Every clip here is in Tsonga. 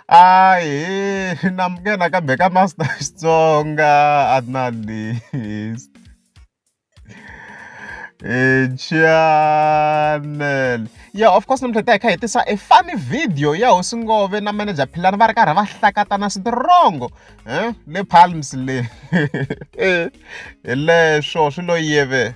A hi na muka nakambe ka master Xitsonga a ri na lexi chanel ya of course namuntlha hi ta hi kha hi tisa e funny video ya hosi ngove na manager philani va ri karhi va hlakatana switirongo um le palms le hi leswo swi lo yeve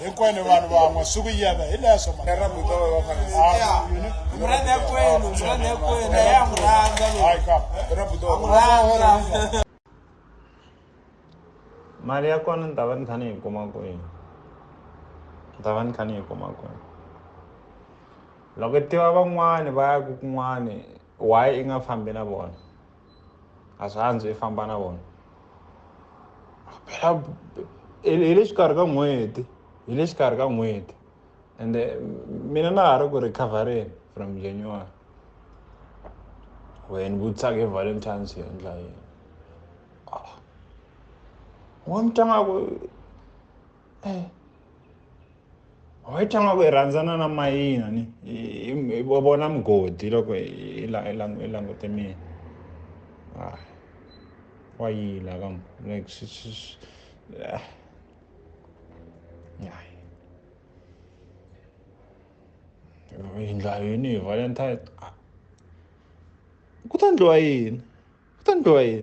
hinkwenu vanhu van'we swi ku yena hi leswo mali ya kona ni ta va ni kha ni yi kuma kwihi ni ta va ni kha ni yi kuma kwihi loko i tiva van'wani va ya ku kun'wani why i nga fambi na vona a swi andzo i famba na vona phela hi le xikarhi ka n'hweti hi le xikarhi ka n'hweti ende mina na ha ri ku recovereni from january wena vutisaka hi valentines yo endla yini wa mi tanga ku eh hi tshama ku hi rhandzana na mayina ni hi vona mugodi loko hi langute mina ah, wa yila ka like swi swi ah. hi ndla yini hi valentine ah. ku ta ndliwa yini ku ta ndliwa yini